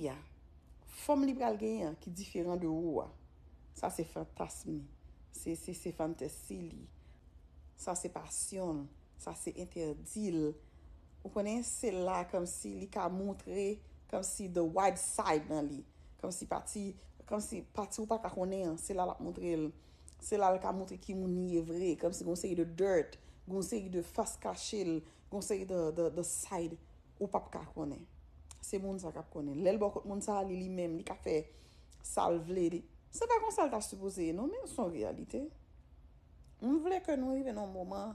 fi a, fòm li pral genyen an ki diferan de ou a, sa se fantasm li, se fantasy li, sa se pasyon l, sa se entèdi l, ou konnen, se la kòmsi li ka montre kòmsi the wild side nan li, kòmsi pati, kòmsi pati ou pa ka konnen an, se la l ap montre l, se la l ka montre ki moun li ye vre, kòmsi gon seri de dirt, gon seri de fas kache l, gon seri de side Ou pap ka konnen. Se moun sa kap konnen. Lèl bò kot moun sa li li menm li ka fè sal vle li. Se pa konsa l ta sipoze ye non men son reyalite. M vle ke nou rive nan yon moman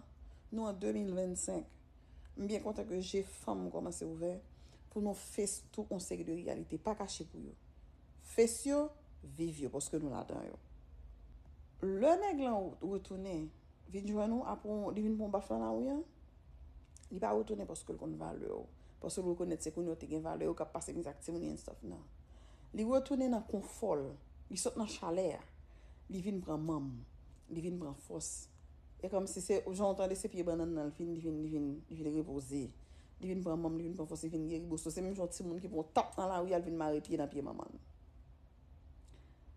nou an 2025 m byen kontan ke je fanm kòmanse ouvè pou nou fase tout yon seri de reyalite pa kache pou yo. Fase yo, viv yo paske nou ladan yo. Lè nèg lan retounen. vin jwenn ou apre w li vin pran w baf nan lari an, li pa retounen paske l konn valè w, paske l rekonèt se kounye w te gen valè, yo ka pase mize ak timoun yo and stuff, nan. Li retounen nan konfò l, li sot nan chalè a, li vin pran manm, li vin pran fòs. E kòmsi se jan w tande se pye bannann nan l fin li vin li vin li vin repoze, li vin pran manm, li vin pran fòs, li vin geri. Bosso se menm jan w timoun ki pran w tap nan lari a l vin mare pye nan pye manman l.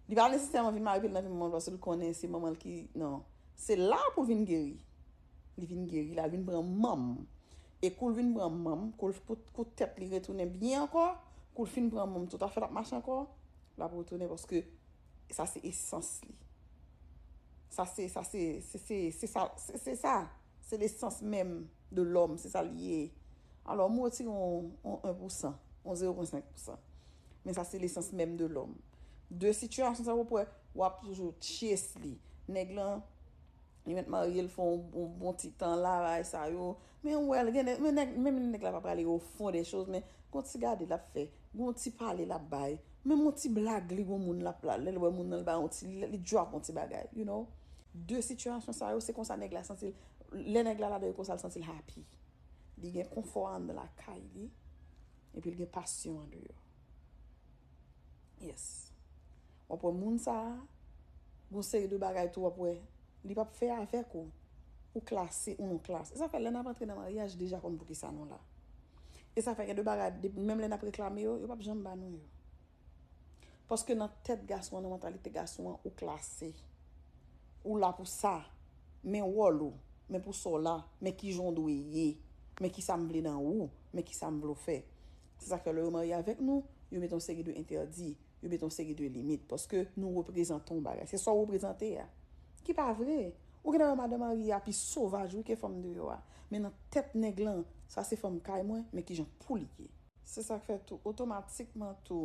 Li pa nesesèman vin mare pye l nan vi manman l paske l konnen se manman l ki nan. Se la pou l vin geri. Li vin geri la, l vin pran manm. E kou l vin pran manm, kou l kou tèt li retounen byen ankò, kou l fin pran manm tout afè l ap mache ankò, l ap retounen paske sa se esans li. Sa se, sa se, se se, se sa, se se sa. Se lesans menm de lòm, se sa l ye. Alò m wotire yon 1 pou san, yon 0.5 pou san. Men sa se lesans menm de lòm. De sitiyasyon sa wap wè, wap toujou chase li. Nèg lan, li mèt marye, li fè yon bon ti tan la, bagay sa yo. Men ou wèl, gen nèg, menm lè nèg la pa prale au fond des choses, men gon ti gade lap fè, gon ti pale lap bay, menm yon ti blag li gon moun lap la, lèl wè moun nan li ba yon ti, li drop yon ti bagay, you know. De sitiyasyon sa yo, se konsa nèg la santil, lè nèg la ladan yo konsa li santil happy. Li gen konfò anndan lakay li. Epi l gen pasyon andeyò. Yes. Wap wè moun sa, gon seri de bagay tou wap wè, li pap fè avèk ou. Ou klase ou non klase. E sa fè lè nap antre nan maryaj deja konn poukisa nou la. E sa fè gen de bagay menm lè nap reklame yo, yo pap janm ba nou yo. Paske nan tèt gason an, nan mantalite gason an, ou klase. Ou la pou sa. Men wòl ou. Men pou sa w la. Men ki jan w dwe ye. Men ki sa m vle nan ou. Men ki sa m vle w fè. Se sa k fè lè yo marye avèk nou, yo met yon seri de entèdi. Yo met yon seri de limit. Paske nou reprezante yon bagay. Se sa w reprezante a. Ki pa vre. Ou gen lè wè madan marye a pi sovaj wi ke fanm deyò a. Men nan tèt nèg lan, sa se fanm kay mwen, men ki jan pou li ye. Se sa k fè tou, otomatikman tou.